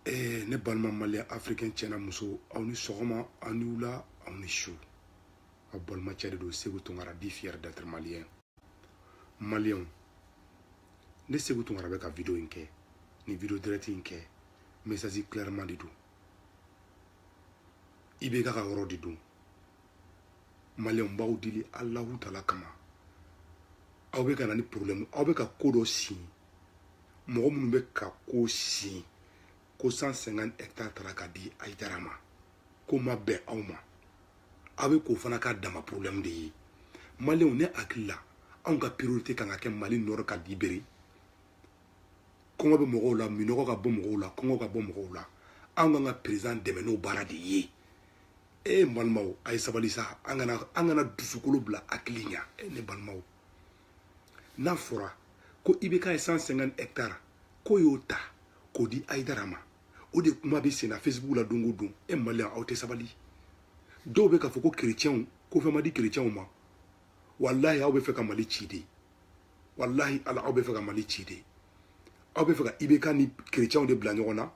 ee ne balima maliyɛn afirikɛn cɛ n'a muso aw ni sɔgɔma aw ni wula aw ni su aw balimacɛ de don segu tunkara dit fier d'être maliyɛn maliyɛnw ne segu tunkara bɛ ka video in kɛ ni video direct in kɛ message clairement de don ibk ka yɔrɔ de don maliyɛnw b'aw deli alahu taala kama aw bɛ ka na ni problème aw bɛ ka ko dɔ sin mɔgɔ minnu bɛ ka ko sin ko 150 hectares tara ka di ayidara ma k'o ma bɛn aw ma aw bɛ k'o fana k'a dama problème de ye maliyɛnw ne hakili la anw ka priorité kan ka kɛ mali nord ka libérer kɔngɔ bɛ mɔgɔw la minɔgɔ ka bɔ mɔgɔw la kɔngɔ ka bɔ mɔgɔw la anw kan ka président dɛmɛ n'o baara de ye e balimaw a ye sabali sa an kana an kana dusukolo bila hakili ɲa e ne balimaw n'a fɔra ko ibk ye 150 hectare k'o y'o ta k'o di ayidara ma o de kuma bɛ senna facebook la don o don e maliyɛn aw tɛ sabali dɔw bɛ k'a fɔ ko kerecɛnw ko fɛn ma di kerecɛnw ma walahi aw bɛ fɛ ka mali ci de walahi ala aw bɛ fɛ ka mali ci de aw bɛ fɛ ka ibk ni kerecɛnw de bila ɲɔgɔn na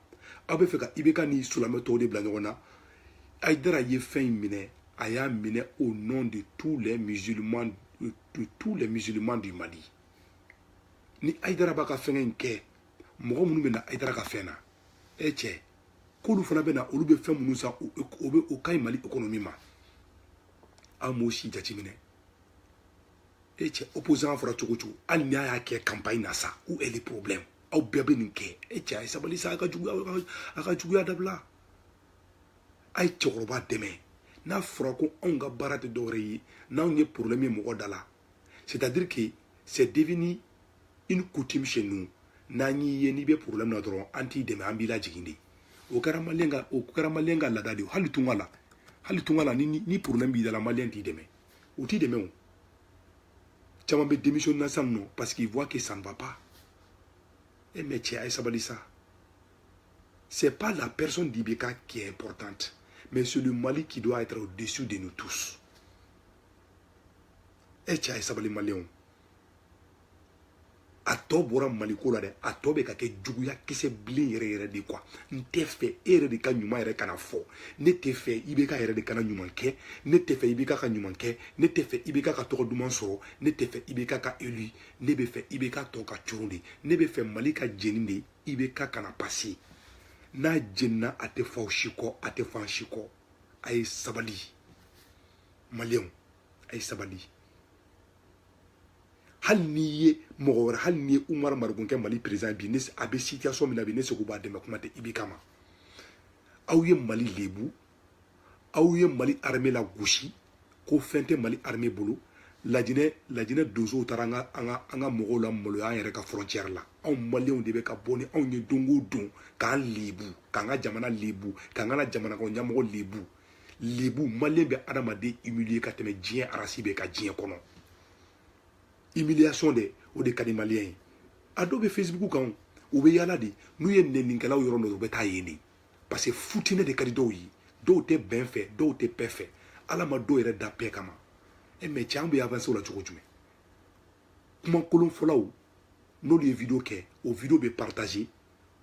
aw bɛ fɛ ka ibk ni silamɛ tɔw de bila ɲɔgɔn na ayidara ye fɛn in minɛ a y'a minɛ au nom de tous les musulmans de tous les musulmans du mali ni ayidara b'a ka fɛnkɛ in kɛ mɔgɔ minnu bɛ na ayidara ka fɛn na e cɛ k'olu fana bɛ na olu bɛ fɛn minnu san o bɛ o ka ɲi mali économie ma aw m'o si jateminɛ e cɛ opposant fɔra cogo cogo hali ni a y'a kɛ campagne na sa où est le problème aw bɛɛ bɛ nin kɛ e cɛ a ye sabali sa a ka juguya a ka juguya dabila a ye cɛkɔrɔba dɛmɛ n'a fɔra ko anw ka baara tɛ dɔwɛrɛ ye n'anw ye problème ye mɔgɔ da la c'est à dire que c'est devenu une coutume chez nous n'an y'i ye n'i bɛ problème na dɔrɔn an t'i dɛmɛ an b'i lajigin de o kɛra maliyɛn ka o kɛra maliyɛn ka laada de ye hali tunga la hali tunga la ni ni problème b'i da la maliyɛn t'i dɛmɛ u t'i dɛmɛ o caman bɛ démissionner na sisan nɔ parce qu'il voit que ça ne va pas e eh, mais cɛ a ye sabali sa C'est pas la personne d'IBK qui est importante, mais c'est le Mali qui doit être au-dessus de nous tous. e cɛ a ye sabali maliyɛnw a tɔ bɔra maliko la dɛ a tɔ bɛ ka kɛ juguya kisɛ bilen yɛrɛ yɛrɛ de quoi n tɛ fɛ e yɛrɛ de ka ɲuman yɛrɛ kana fɔ ne tɛ fɛ ibk yɛrɛ de kana ɲuman kɛ ne tɛ fɛ ibk ka ɲuman kɛ ne tɛ fɛ ibk ka tɔgɔ duman sɔrɔ ne tɛ fɛ ibk ka élu ne bɛ fɛ ibk tɔ ka coron de ne bɛ fɛ mali ka jeni de IBK kana pase n'a jenina a tɛ f'aw si kɔ a tɛ f'an si kɔ a ye sabali maliyɛnw a ye sabali hali n'i ye mɔgɔ wɛrɛ hali n'i ye umar mariko kɛ mali président bi a bɛ situation min na bi ne seko b'a dɛmɛ kuma tɛ IBK ma aw ye mali lebu aw ye mali armée lagosi ko fɛn tɛ mali armée bolo lajinɛ lajinɛ donsow taara an ka an ka an ka mɔgɔw lamaloya an yɛrɛ ka frontière la anw maliyɛnw de bɛ ka bɔ ni anw ye don o don k'an lebu k'an ka jamana lebu k'an ka jamana kɔnɔ ɲɛmɔgɔ lebu lebu maliyɛn bɛ adamaden humilier ka tɛmɛ diɲɛ arasi bɛɛ kan diɲɛ kɔnɔ humiliation de o de ka di maliyɛn ye a dɔw bɛ facebook kan u bɛ yaala de n'u ye nɛninikɛlaw yɔrɔ dɔn u bɛ taa yen de parce que futinɛ de ka di dɔw ye dɔw tɛ bɛn fɛ dɔw tɛ paix fɛ ala ma dɔw yɛrɛ da paix kama e mais cɛ an bɛ avanse o la cogo jumɛn kuma kolon fɔlaw n'olu ye video kɛ o video bɛ partage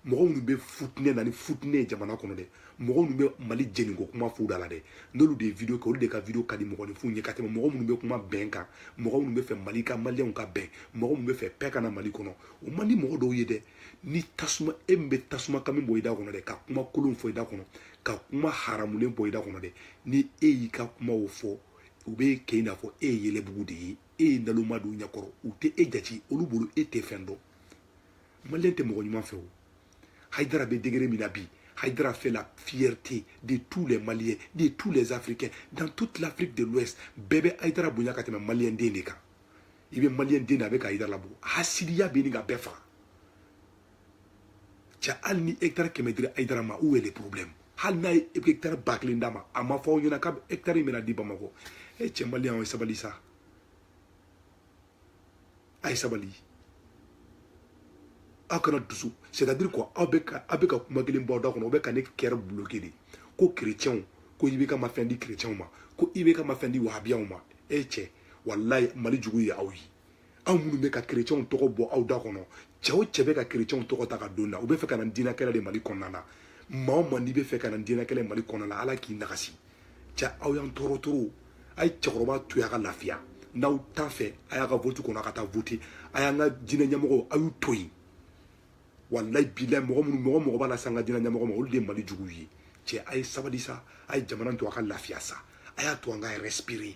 mɔgɔ minnu bɛ futinɛ na ni futinɛ ye jamana kɔnɔ dɛ mɔgɔ minnu bɛ mali jeninko kuma f'u da la dɛ n'olu de ye video kɛ olu de ka video ka di mɔgɔninfinw ye ka tɛmɛ mɔgɔ minnu bɛ kuma bɛn kan mɔgɔ minnu bɛ fɛ mali ka maliyɛnw ka bɛn mɔgɔ minnu bɛ fɛ paix ka na mali kɔnɔ o man di mɔgɔ dɔw ye dɛ ni tasuma e min bɛ tasuma kami bɔ i da kɔnɔ dɛ ka kuma kolon fɔ i da kɔnɔ ka kuma haramulen bɔ i da kɔnɔ dɛ ni e y'i ka kumaw fɔ u bɛ kɛ i n'a fɔ e ye yɛlɛbugu de ye e ye nalonma d'u ɲɛkɔrɔ u tɛ e jate olu bolo e tɛ fɛn dɔn maliyɛn tɛ mɔgɔ ɲuman fɛ o hayidara bɛ degré min na bi hayidara fait la fierté de tous les Maliens, de tous les Africains, dans toute l'Afrique de l'Ouest. bɛɛ bɛ hayidara bonya ka tɛmɛ maliyɛn den de i bɛ maliyɛn den na a bɛ ka hayidara labɔ hasidiya bɛ ɲini ka bɛɛ faga cɛ hali ni hectare kɛmɛ dira ayidara ma où est le problème hali n'a ye hectare ba kelen d'a ma a ma fɔ aw ɲɛna k'a hectare in bɛna di bamakɔ e cɛ maliyɛn aw ye sabali sa a ye sabali aw kana dusu c'est à dire ko aw bɛ ka aw bɛ ka kuma kelen bɔ aw da kɔnɔ aw bɛ ka ne kɛrɛ bloqué de ko chrétienw ko IBK ma fɛn di chrétienw ma ko IBK ma fɛn di wahabiyaw ma e cɛ walayi mali jugu ye aw ye aw minnu bɛ ka kerecɛnw tɔgɔ bɔ aw da kɔnɔ cɛ o cɛ bɛ ka kerecɛnw tɔgɔ ta ka don na u bɛ fɛ ka na diinɛkɛlɛ de mali kɔnɔna na maa o maa n'i bɛ fɛ ka na diinɛkɛlɛ mali kɔnɔna na ala k'i nagasi cɛ aw y'an tɔɔrɔ tɔɔrɔ a ye cɛkɔrɔba to yen a ka lafiya n'aw t'a fɛ a y'a ka vote kɔnɔ a ka taa vote a y'an ka diinɛ ɲɛmɔgɔw a y'u to yen walayi bilayi mɔgɔ minnu mɔgɔ mɔgɔ b'a lase an ka diinɛ ɲɛmɔgɔ ma olu de ye mali juguw ye cɛ a ye sabali sa a ye jamana to a ka lafiya sa a y'a to an ka respirer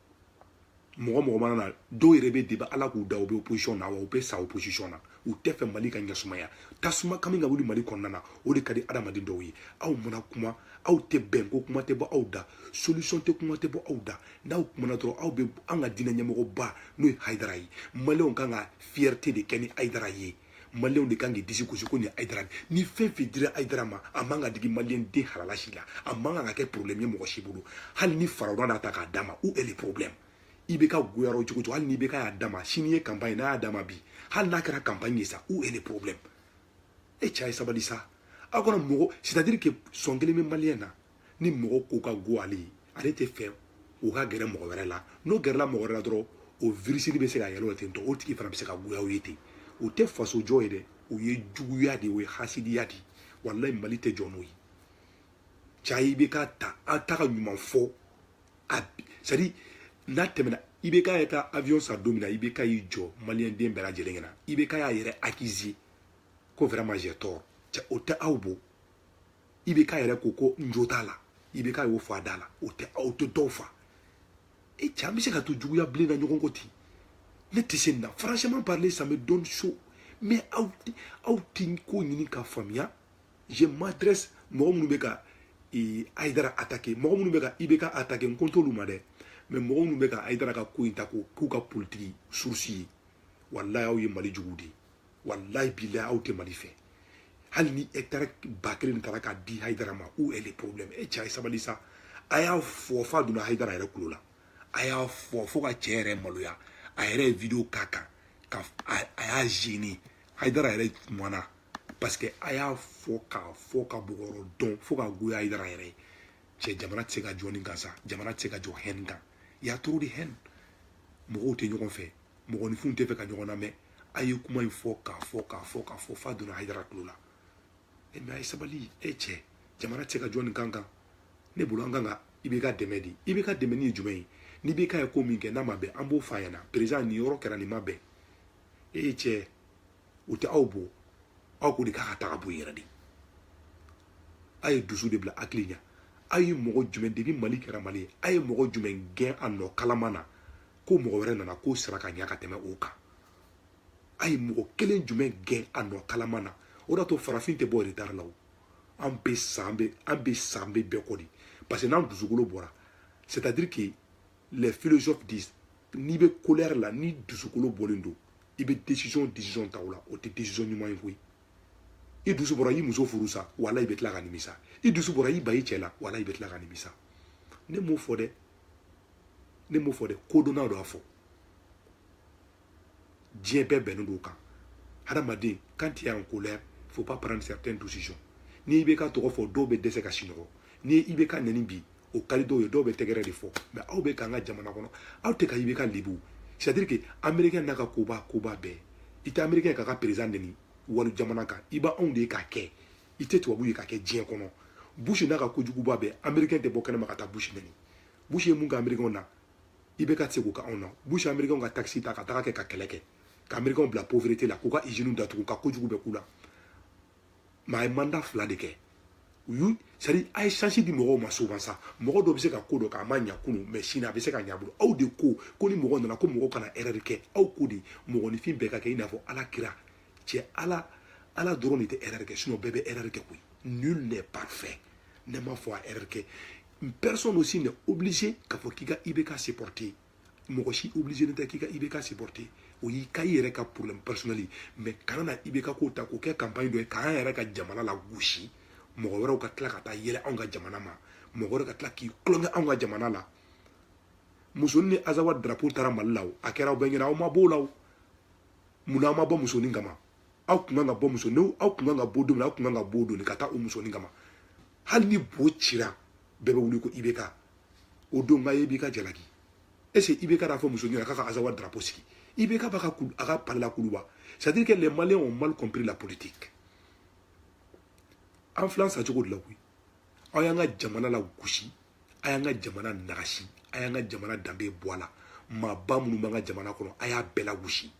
mɔgɔ mɔgɔ mana na dɔw yɛrɛ bɛ depuis ala k'u da u bɛ opposition na wa u bɛ sa opposition na u tɛ fɛ mali ka ɲɛsumaya tasuma kami ka wuli mali kɔnɔna na o de ka di adamaden dɔw ye aw mana kuma aw tɛ bɛn ko kuma tɛ bɔ aw da solution tɛ kuma tɛ bɔ aw da n'aw kumana dɔrɔn aw bɛ an ka diinɛ ɲɛmɔgɔba n'o ye hayidara ye maliyɛnw ka kan ka fierté de kɛ ni hayidara ye maliyɛnw de kan k'i disi gosi ko nin ayidara ni fɛn fɛn dira ayidara ma a man ka digi maliyɛn den halala si la a man kan ka kɛ problème ye mɔgɔ si bolo hali ni farawuna n'a ta k'a d'a ma où est le problème IBK goyara o cogo cogo hali ni IBK y'a d'a ma sini ye campagne n'a y'a d'a ma bi hali n'a kɛra campagne ye sa où est le problème e cɛ a ye sabali sa aw kana mɔgɔ c'est à dire que sɔn kelen bɛ maliyɛn na ni mɔgɔ ko ka go ale ye ale tɛ fɛ o ka gɛrɛ mɔgɔ wɛrɛ la n'o gɛrɛla mɔgɔ wɛrɛ la dɔrɔn o virisi bɛ se ka yɛlɛ o ten tɔ o tigi fana bɛ se ka goya o ye ten o tɛ faso jɔ ye dɛ o ye juguya de ye o ye hasidiya de ye walayi mali tɛ jɔ n'o ye cɛ IBK ta an t'a ka ɲuman fɔ a c'est à dire n'a tɛmɛna IBK y'a ka avion san don min na IBK y'i jɔ maliyɛn den bɛɛ lajɛlen ɲɛna IBK y'a yɛrɛ akize ko vraiment j'ai tort cɛ o tɛ aw bɔ IBK yɛrɛ ko ko n jo t'a la IBK y'o fɔ a da la o tɛ aw tɛ dɔw fa e cɛ an bɛ se ka to juguya bilen na ɲɔgɔn kɔ ten ne tɛ se nin na franchement parler ça me donne chaud mais aw aw tɛ ko ɲini ka faamuya je m'adresse mɔgɔ minnu bɛ ka ee, ayidara atake mɔgɔ minnu bɛ ka IBK atake n ko n t'olu ma dɛ mais mɔgɔ minnu bɛ ka ayidara ka ko in ta ko k'u ka politiki surusi ye walayi aw ye mali juguw de ye walayi bilayi aw tɛ mali fɛ hali ni hɛkitari ba kelen taara k'a di hayidara ma où est le problème e cɛ a ye sabali sa a y'a fɔ f'a donna hayidara yɛrɛ kulo la a y'a fɔ fo ka cɛ yɛrɛ maloya a yɛrɛ ye video k'a kan ka a y'a gêné hayidara yɛrɛ kumana parce que a y'a fɔ k'a fɔ ka bɔgɔrɔ dɔn fo k'a goya hayidara yɛrɛ ye cɛ jamana tɛ se ka jɔ nin kan sa jamana tɛ se ka jɔ haine kan y a trop de haine mɔgɔw tɛ ɲɔgɔn fɛ mɔgɔninfinw tɛ fɛ ka ɲɔgɔn lamɛn a ye kuma in fɔ k'a fɔ k'a fɔ k'a fɔ f'a donna hayidara tulo la e mais a ye sabali e cɛ jamana tɛ se ka jɔ nin kan kan ne bolo an kan ka IBK dɛmɛ de IBK dɛmɛni ye jumɛn ye ni IBK ye ko min kɛ n'a ma bɛn an b'o f'a ɲɛna président nin yɔrɔ kɛra nin ma bɛn e cɛ o tɛ aw bɔ aw ko de k'a ka taga bɔ yɛrɛ de a ye dusu de bila hakili ɲɛ a ye mɔgɔ jumɛn depuis mali kɛra mali ye a ye mɔgɔ jumɛn gɛn a nɔ kalama na ko mɔgɔ wɛrɛ nana k'o sera ka ɲa ka tɛmɛ o kan a ye mɔgɔ kelen jumɛn gɛn a nɔ kalama na o de to farafin tɛ bɔ retard la o an bɛ sa an bɛ an bɛ sa an bɛ bɛɛ kɔ de parce que n'an dusukolo bɔra c'est à dire que les philosophes disent n'i bɛ colère la n'i dusukolo bɔlen don i bɛ décision décision ta o la o tɛ décision ɲuman ye koyi i dusu bɔra i muso furu sa wala i bɛ tila ka nimisa i dusu bɔra i ban i cɛ la wala i bɛ tila ka nimisa ne m'o fɔ dɛ ne m'o fɔ dɛ kodɔnnaw de y'a fɔ diɲɛ bɛɛ bɛnnen don o kan hadamaden quand tu es en colère faut pas prendre certaines décisions n'IBK tɔgɔ fɔ dɔw bɛ dɛsɛ ka sinɔgɔ ni IBK nɛni bi o ka di dɔw ye dɔw bɛ tɛgɛrɛ de fɔ mais aw bɛ k'an ka jamana kɔnɔ aw tɛ ka IBK lebu c'est à dire que américain n'a ka koba koba bɛɛ i tɛ américain k'a ka président nɛni wali jamana kan i b'anw de ye k'a kɛ i tɛ tubabu ye k'a kɛ diɲɛ kɔnɔ bush n'a ka kojuguba bɛɛ américain tɛ bɔ kɛnɛma ka taa bush nɛni bush ye mun kɛ amerikɛnw na IBK tɛ se k'o kɛ anw na bush ye amerikɛnw ka takisi ta ka taga kɛ ka kɛlɛ kɛ ka amerikɛnw bila pauvreté la k'u ka iziniw datugu ka kojugu bɛɛ k'u la mais a ye mandat fila de kɛ u y'u c'est à dire a ye chance di mɔgɔw ma souvent sa mɔgɔ dɔ bɛ se ka ko dɔ kɛ a ma ɲa kunu mais sini a bɛ se ka ɲa a bolo aw de ko ko ni mɔgɔ nana ko mɔgɔ kana erreur kɛ aw ko de mɔgɔninfin bɛɛ ka kɛ i n'a fɔ ala kira cɛ ala ala dɔrɔn de tɛ erreur kɛ sinon bɛɛ bɛ erreur kɛ koyi nul n'est parfait ne m'a fɔ a erreur kɛ personne aussi n'est obligé k'a fɔ k'i ka IBK supporter mɔgɔ si obligélen tɛ k'i ka IBK supporter o y'i ka i yɛrɛ ka problème personnel ye mais kana na IBK ko ta k'o kɛ campagne dɔ ye k'an yɛrɛ ka jamana lagosi mɔgɔ wɛrɛw ka tila ka taa yɛlɛ anw ka jamana ma mɔgɔ wɛrɛ ka tila k'i tulonkɛ anw ka jamana la musonin ni azawa drapeau taara mali la o a kɛra aw bɛɛ ɲɛna aw ma b'o la o mun na aw ma bɔ musonin kama aw kun kan ka bɔ musonin aw kun kan ka bɔ don min na aw kun kan ka bɔ don de ka taa o musonin kama hali ni bo cira bɛɛ bɛ wuli ko IBK o don ka IBK jalaki est-ce IBK de y'a fɔ muso ɲɛna k'a ka azawa drapeau sigi IBK ba ka a ka palais la kuluba c'est à dire que les maliens ont mal compris la politique an filan sa cogo de la koyi aw y'an ka jamana lagosi a y'an ka jamana nagasi a y'an ka jamana danbe bɔ a la maaba minnu b'an ka jamana kɔnɔ a y'a bɛɛ lagosi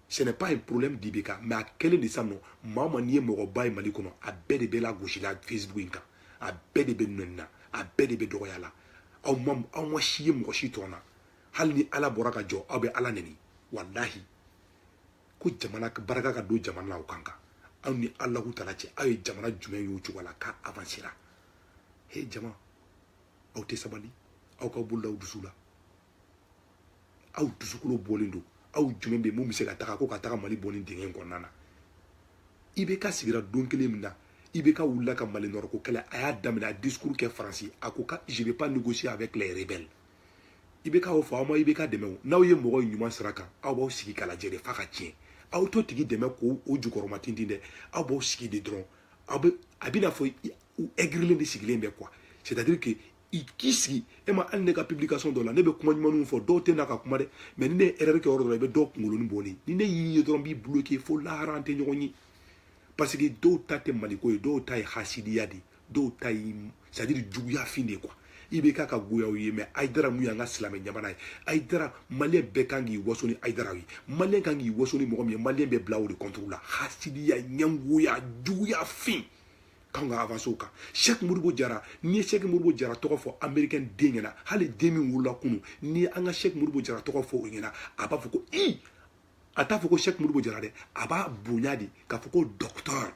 ce n'est pas un problème d'IBK mais a kɛlen de sa nɔ maa o maa n'i ye mɔgɔba ye mali kɔnɔ a bɛɛ de bɛ lagosi la facebook in kan a bɛɛ de bɛ nɛni na a bɛɛ de bɛ dɔgɔya la aw ma aw ma si ye mɔgɔ si tɔn na hali ni ala bɔra ka jɔ aw bɛ ala nɛni walahi ko jamana baraka ka don jamana la o kan kan aw ni alahu taala cɛ aw ye jamana jumɛn y'o cogo la k'a avansera he jama aw tɛ sabali aw ka bolo da aw dusu la aw dusukolo bɔlen don aw jumɛn bɛ min bɛ se ka taga ko ka taga mali bɔ nin dingɛ in kɔnɔna na IBK sigira don kelen min na IBK wulila ka mali nord ko kɛlɛ a y'a daminɛ a discours kɛ faransi a ko ka je vais pas négocier avec les rebelles IBK y'o fɔ aw ma IBK dɛmɛ o n'aw ye mɔgɔ ye ɲuman sira kan aw b'aw sigi k'a lajɛ de f'a ka tiɲɛ aw t'o tigi dɛmɛ k'o o jukɔrɔma tintin dɛ aw b'aw sigi de dɔrɔn aw bɛ a b'i n'a fɔ u aigrilen de sigilen bɛ quoi c'est à dire que i k'i sigi e ma hali ne ka publication dɔ la ne bɛ kuma ɲumanw fɔ dɔw tɛ na ka kuma dɛ mais ni ne ye erreur kɛ yɔrɔ dɔ la i bɛ dɔw kunkolonin bɔlen ni ne y'i ye dɔrɔn n b'i bloquer fo lahara an tɛ ɲɔgɔn ye parce que dɔw ta tɛ maliko ye dɔw ta ye hasidiya de ye dɔw ta ye c'est à dire juguya fin de ye quoi IBK ka goya aw ye mɛ ayidara mun y'an ka silamɛ ɲamana ye ayidara maliyɛn bɛɛ kan k'i waso ni ayidara ye maliyɛn kan k'i waso ni mɔgɔ min ye maliyɛn bɛɛ bila o de kɔntoro la hasidiya ɲɛngoya juguya fin k'an ka avanse o kan sɛki modibo jara n'i ye sɛki modibo jara tɔgɔ fɔ amerikɛn den ɲɛna hali den min wolola kunu n'i ye an ka sɛki modibo jara tɔgɔ fɔ o ɲɛna a b'a fɔ ko i a t'a fɔ ko sɛki modibo jara dɛ a b'a bonya de k'a fɔ ko dɔkitɔri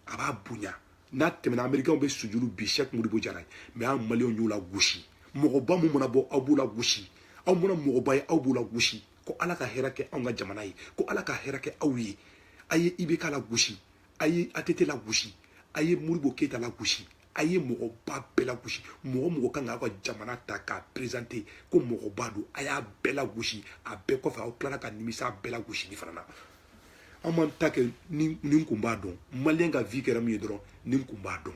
a b'a bonya n'a tɛmɛna amerikɛnw bɛ sujuru bi sɛki modibo jara ye mɛ an maliyɛnw y'o lagosi mɔgɔba mun mana bɔ aw b'o lagosi aw mana mɔgɔba ye aw b'o lagosi ko ala ka hɛrɛ kɛ anw ka jamana ye ko ala ka hɛrɛ kɛ aw ye a ye ibk lagosi a ye att lagosi a ye modibo keyita lagosi a ye mɔgɔba bɛɛ lagosi mɔgɔ mɔgɔ kan k'aw ka jamana ta k'a perezante ko mɔgɔba don a y'a bɛɛ lagosi a bɛɛ kɔfɛ aw tilara ka nimisa a bɛɛ lagosili fana na an m'an ta kɛ ni n kun b'a dɔn maliyɛn ka vi kɛra min ye dɔrɔn ni n kun b'a dɔn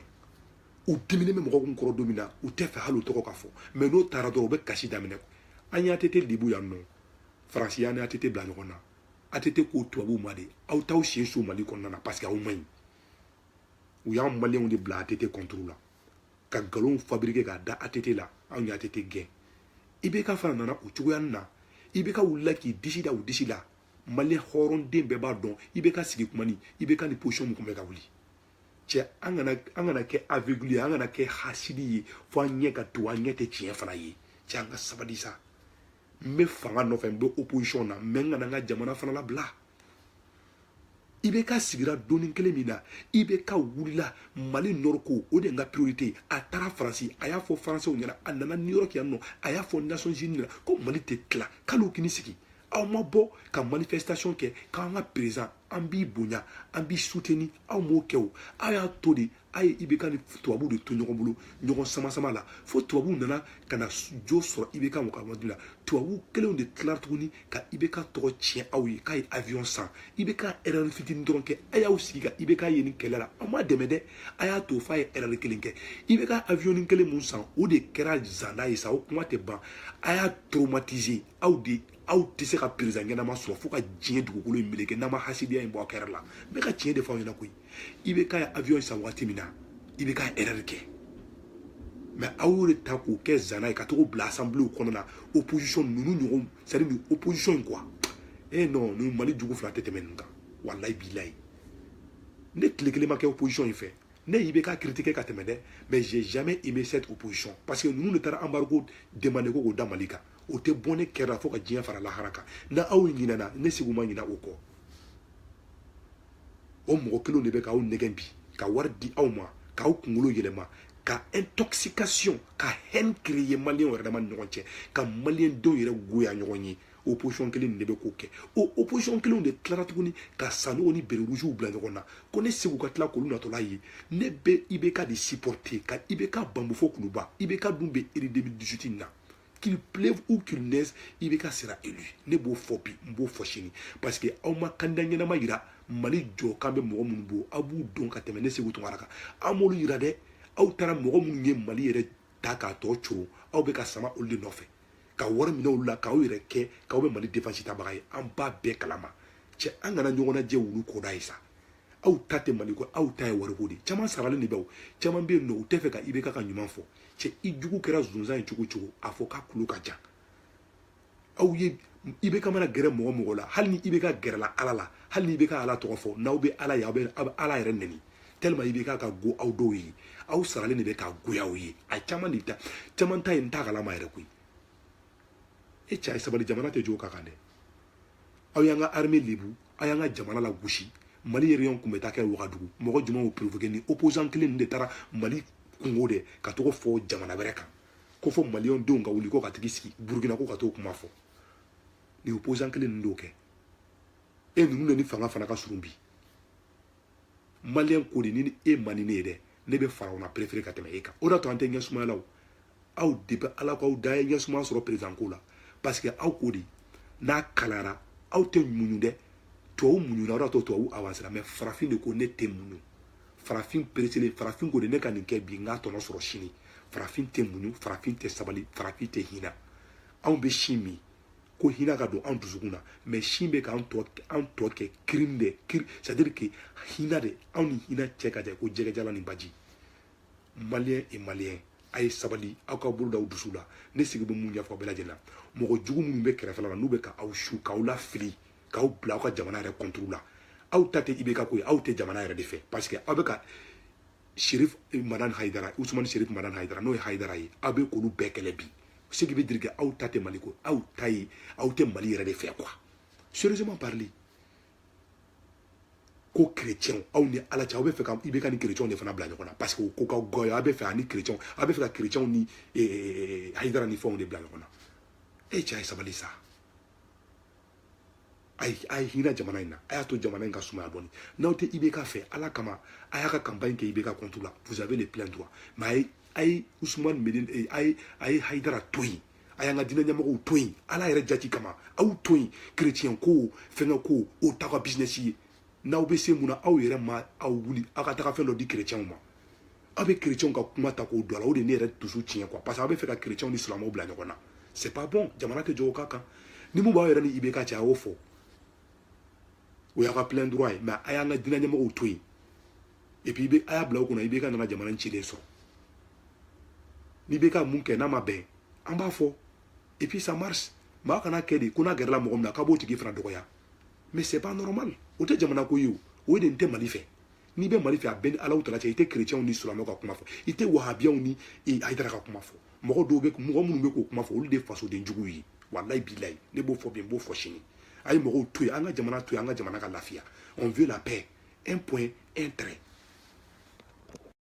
u diminen bɛ mɔgɔ kun kɔrɔ don min na u t'a fɛ hali o tɔgɔ ka fɔ mɛ n'o taara dɔrɔn u bɛ kasi daminɛ an y'ATT lebu yan nɔ faransi y'an n'ATT bila ɲɔgɔn na ATT ko tubabuw ma de aw t'aw sen so mali kɔnɔna na parce que aw man ɲi u y'an maliyɛnw de bila ATT kɔnturu la ka nkalonw fabrike k'a da ATT la anw ye ATT gɛn IBK fana nana o cogoyanin na IBK wulila k'i disi da u disi la maliyɛn hɔrɔnden bɛɛ b'a dɔn IBK sigi kuma ni IBK ni position min tun bɛ ka wuli cɛ an kana an kana kɛ aveugle ye an kana kɛ hasidi ye fo an ɲɛ ka to an ɲɛ tɛ tiɲɛ fana ye cɛ an ka sabali sa n bɛ fanga nɔfɛ n bɛ opposition na mɛ n kana n ka jamana fana labila IBK sigira don in kelen min na IBK wulila mali nɔri ko o de ye n ka priorité ye a taara faransi a y'a fɔ faransɛw ɲɛna a nana new york yan nɔ a y'a fɔ nations unies ɲɛna ko mali tɛ tila k'al'u kini sigi aw ma bɔ ka manifestation kɛ k'an ka perezan an b'i bonya an b'i suteni aw m'o kɛ o aw y'a to de a ye ibk ni tubabuw de to ɲɔgɔn bolo ɲɔgɔn samasama la fo tubabuw nana ka na jo sɔrɔ ibk mɔgɔmadu la tubabuw kelenw de tilara tuguni ka ibk tɔgɔ tiɲɛ aw ye k'a ye avion san ibk erɛri fitini dɔrɔn kɛ a y'aw sigi ka ibk ye nin kɛlɛ la aw m'a dɛmɛ dɛ a y'a to f'a ye erɛri kelen kɛ ibk avion kelen mun san o de kɛra zanda ye sa o kuma tɛ ban a y'a traumatiser aw de aw tɛ se ka perezan ɲɛnama sɔrɔ fo ka diɲɛ dugukolo in meleke n'an ma hasidiya in bɔ aw kɛrɛ la n bɛ ka tiɲɛ de fɔ aw ɲɛna koyi IBK ye avion san waati min na IBK ye erreur kɛ mɛ aw y'o de ta k'o kɛ zana ye ka to k'o bila assemblée kɔnɔ na opposition ninnu ɲɔgɔn c'est à dire nin opposition in quoi eh non nin mali jugu fila tɛ tɛmɛ nin kan walayi bilayi ne tile kelen ma kɛ opposition in fɛ ne ye IBK critiquer ka tɛmɛ dɛ mais j'ai jamais aimé cette opposition parce que ninnu de taara embargo demander ko k'o da mali kan o tɛ bɔ ne kɛrɛ la fo ka diɲɛ fara lahara kan n'aw ɲinɛna ne seku ma ɲinɛ o kɔ o mɔgɔ kelenw de bɛ k'aw nɛgɛn bi ka wari di aw ma k'aw kunkolo yɛlɛma ka intoxication ka haine créer maliyɛnw yɛrɛ dama ni ɲɔgɔn cɛ ka maliyɛndenw yɛrɛ goya ɲɔgɔn ye opposition kelen de bɛ k'o kɛ o opposition kelenw de tilara tuguni ka sanogo ni bere rougew bila ɲɔgɔn na ko ne seku ka tila k'olu natɔla ye ne bɛ ibk de supporter ka ibk bambu fo kuluba ibk dun bɛ eri 2018 na qu'il pleuve ou qu'il neige ibk sera élu ne b'o fɔ bi n b'o fɔ sini parce que aw ma candidat ɲɛnama yira mali jɔ kan bɛ mɔgɔ minnu bo aw b'u dɔn ka tɛmɛ ne seku tunkara kan aw m'olu yira dɛ aw taara mɔgɔ minnu ye mali yɛrɛ ta k'a tɔ coron aw bɛ ka sama olu de nɔfɛ ka wari minɛ olu la k'aw yɛrɛ kɛ k'aw bɛ mali defansi tabaga ye an b'a bɛɛ kalama cɛ an kana ɲɔgɔn najɛ wulu koda ye sa aw ta tɛ mali ko aw ta ye wariko de ye caman saralen de bɛ o caman bɛ yen nɔ u tɛ fɛ ka ibk ka ɲuman fɔ cɛ i jugu kɛra zonzan ye cogo cogo a fɔ k'a kulo ka jan aw ye ibk mana gɛrɛ mɔgɔ mɔgɔ la hali ni ibk gɛrɛla ala la hali ni ibk ala tɔgɔ fɔ n'aw bɛ ala ye aw bɛ ala yɛrɛ nɛni tellement ibk ka go aw dɔw ye aw saralen de bɛ k'a goya aw ye a caman de ta caman ta ye n t'a kalama yɛrɛ koyi e cɛ a ye sabali jamana tɛ jɔ o ka kan dɛ aw y'an ka armée lebu aw y'an ka jamana lagosi mali réunion kun bɛ taa kɛ wagadugu mɔgɔ jumɛn y'o provoqué ni opposant kelen ninnu de taara mali kunko de ka tag'o fɔ jamana wɛrɛ kan ko fɔ maliyɛn denw ka wuli ko ka tag'i sigi burukina ko ka t'o kuma fɔ nin opposant kelen ninnu d'o kɛ e ninnu de ni fanga fana ka surun bi maliyɛn ko de ni e man di ne ye dɛ ne bɛ farawuna perefere ka tɛmɛ e kan o de y'a to an tɛ ɲɛ sumaya la o aw depuis ala k'aw da ye ɲɛ sumaya sɔrɔ perezan ko la parce que aw ko de n'a kalayara aw tɛ muɲu dɛ tubabu muɲuna o de y'a to tubabu avansera mɛ farafin de ko ne tɛ muɲu farafin pereselen farafin ko de ne ka nin kɛ bi n k'a tɔnɔ sɔrɔ sini farafin tɛ muɲu farafin tɛ sabali farafin tɛ hinɛ anw bɛ sin min ko hinɛ ka don an dusukun na mɛ sin bɛ k'an tɔ an tɔ kɛ crime de c'est à dire que hinɛ de anw ni hinɛ cɛ ka jan ko jɛgɛjala ni baji maliyɛn et maliyɛn a ye sabali aw ka bolo da aw dusu la ne seku bɛ min ɲɛfɔ bɛɛ lajɛlen na mɔgɔ jugu minnu bɛ kɛrɛfɛla la n'u bɛ ka aw su k'aw lafili k'aw bila aw ka jamana yɛrɛ contre la aw ta tɛ ibk ko ye aw tɛ jamana yɛrɛ de fɛ parce que aw bɛ ka sherif madani haidara usumani sherif madani haidara n'o ye haidara ye aw bɛ k'olu bɛɛ kɛlɛ bi ce qui veut dire que aw ta tɛ mali ko aw ta ye aw tɛ mali yɛrɛ de fɛ quoi sérieusement parler ko chrétiens aw ni ala cɛ aw bɛ fɛ ka ibk ni chrétiens de fana bila ɲɔgɔn na parce que o ko ka goya aw bɛ fɛ ani chrétiens aw bɛ fɛ ka chrétiens ni haidara ni fɛnw de bila ɲɔgɔn na e cɛ a ye sabali sa a ye a ye hinɛ jamana in na a y'a to jamana in ka sumaya dɔɔni n'aw tɛ IBK fɛ ala kama a y'a ka campagne kɛ IBK contre la vous avez le plein droit mais a ye a ye Ousmane Madani eh, a ye a ye Hayidara to yen a y'an ka diinɛ ɲɛmɔgɔw to yen ala yɛrɛ jati kama aw to yen chrétien ko fɛngɛ ko o t'aw ka business ye n'aw bɛ se mun na aw yɛrɛ ma aw wuli aw ka taga fɛn dɔ di kerecɛnw ma aw bɛ kerecɛnw ka kuma ta k'o don a la o de ye ne yɛrɛ dusu tiɲɛ quoi parce que aw bɛ fɛ ka kerecɛnw ni silamɛw bila ɲɔgɔn na c'est pas bon jamana tɛ jɔ o ka kan ni mun b'aw yɛrɛ ni ibk cɛ a y'o fɔ o y'aw ka plein droit ye mais a y'an ka diinɛ ɲɛmɔgɔw to yen et puis a y'a bila u kunna ibk nana jamana in cilen sɔrɔ ni ibk mun kɛ n'a ma bɛn an b'a fɔ et puis ça marche mais a kana kɛ de ko n'a gɛrɛla mɔgɔ min na k'a b'o tigi fana dɔgɔya mais c'est pas normal o tɛ jamana ko ye o y'i de tɛ mali fɛ n'i bɛ mali fɛ a b'i ni alahu taala cɛ i tɛ kerecɛnw ni silamɛw ka kuma fɔ i tɛ wahabiyaw ni hayidara ka kuma fɔ mɔgɔ dɔw bɛ mɔgɔ minnu bɛ k'o kuma fɔ olu de fasoden juguw ye walayi bilayi ne b'o fɔ bi n b'o fɔ sini a ye mɔgɔw to yen an ka jamana to yen an ka jamana ka lafiya on veut la paix un point un trait